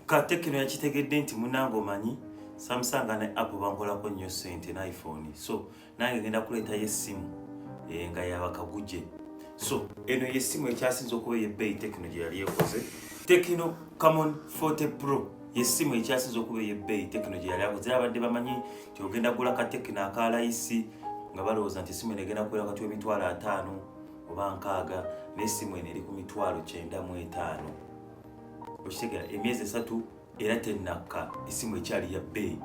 katekino yakitegedde nti munange omanyi samusanga ne app bangolako nnyo sente ne iphone so nange ngenda kuleetayo essimu eh, nga yabakaguje so eno yessimu ekyasinza okuba eyebbeeyi tekino gye yali ekoze tekino camon 40 pro yessimu ekyasinza okuba eyebbeeyi tekino gye yali akoze abadde bamanyi nti ogenda gula ka tekino akalayisi nga balowooza nti essimu eno egenda kubeera wakati w'emitwalo ataano oba nkaaga naye essimu eno eri ku mitwalo kyenda mu etaano okitegera emyezi esatu era tenakka esimu ekyali ya bbeeyi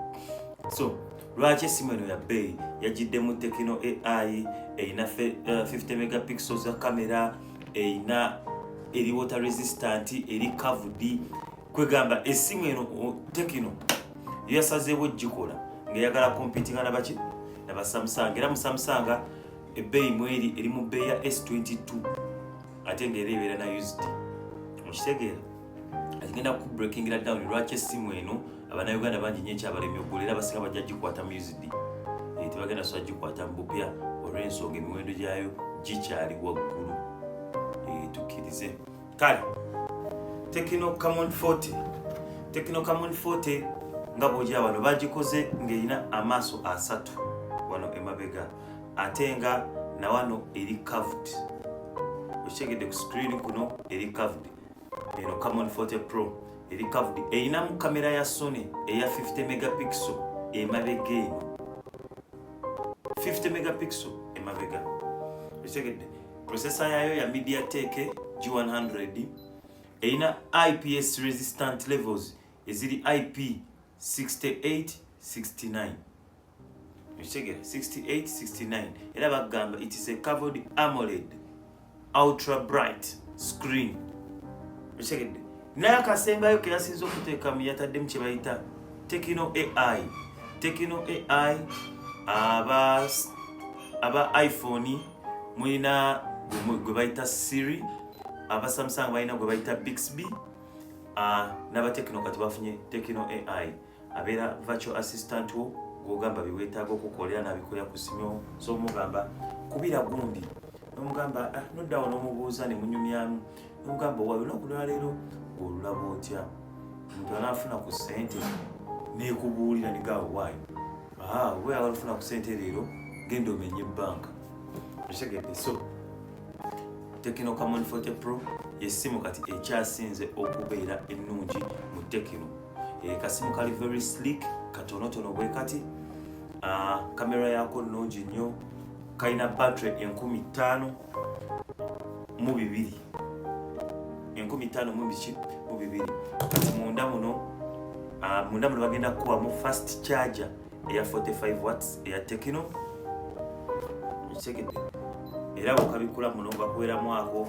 so lwaki esimu eno ya bbeeyi yagiddemu tekino ai erina 50 eh, megapixel za kamera erina eri water resistant eri kavudi kwegamba esimu eno tekino yasazeewo gikola ngaeyagala kompitinga nabaki nabasamusanga era musamusanga ebbeeyi mweri eri mu bbeeyi ya s22 ate nga era ebeera na used mukitegeera agenda ku breaking la down lwaki essimu eno abanauganda bangi nyo ekyabalemye okugula era basinga bajja gikwata mu used eh, tebagenda soa gikwata mu bupya olw'ensonga emiwendo gyayo gikyali waggulu eh, tukkirize kale tekino camon 40 tekino camon 40 nga bwogya wano bagikoze ng'erina amaaso asatu wano emabega ate nga nawano eri caved okitegedde ku screen kuno eri caved eno camon 40 pro eri caved erinamu kamera ya sony eya 50 megapixel emabega eno 50 megapixel emabega okitegedde processor yayo ya mediatek g100 erina ips resistant levels eziri ip 68 69 ekitegeera 68 69 era bagamba it is a covered amoled ultra bright screen ekitegedde naye akasembayo keyasinza okuteekamu yataddemu kyebayita tekino ai tekino ai aba aba iphone mulina gwe bayita siri aba samsung balina gwe bayita bixb ah, n'abatekino kati bafunye tekino ai abeera virtual assistant wo gwogamba byewetaaga okukolera nabikolera ku simu so omugamba kubira gundi nomugamba ah, nodda wo nomubuuza nemunyumyamu nomugamba owa lunaku lwaleero olulaba otya omuntu anaafuna ku sente nekubuulira nigawo waayo ah, oba yagala ofuna ku sente leero genda omenye ebbanka okitegedde so tekino kamon 40 pro yessimu kati ekyasinze okubeera ennungi mu tekino e, kasimu kali very slick katonotono bwe kati kamera ah, yako nnungi nnyo kalina battery enkumi ttaano mu bibiri enkumi ttaano mu biki mu bibiri kati munda muno ah, munda muno bagenda kukuwamu fast charger eya 45 watts eya tekino ekitegedde era bukabikula muno bakuweramu ako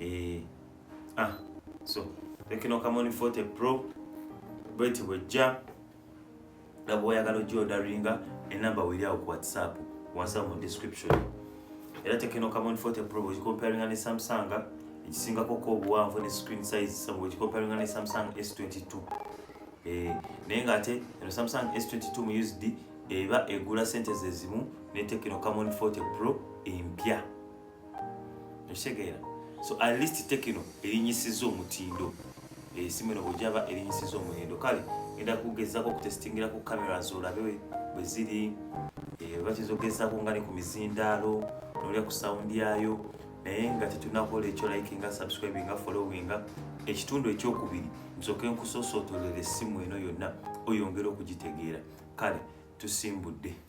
eh, ah, so tekino kamoni forte pro bweti bwejja nga bwoyagala ojja odaringa enamba weriawo ku whatsapp wansi mu description era tekino kamoni forte pro bwekikomparinga ne samsung ekisingako ko obuwanvu ne screen size sabu bwekikomparinga ne samsung s22 eh, naye nga ate eno samsung s22 mu usd eba egula sente zezimu ne tekino kamoni forte pro empya okitegeera so at least tekino erinyisiza omutindo esimu eno bwegyaba erinyisiza omutindo kale enda kugezako okutesitingira ku kamera zolabe bweziri eh, bakizogezako nga ne ku mizindaalo nolya ku sawundi yaayo naye nga tetunakola ekyo likinga subscribinga followinga ekitundu ekyokubiri nsoke nkusosootolera essimu eno yonna oyongere okugitegeera kale tusimbudde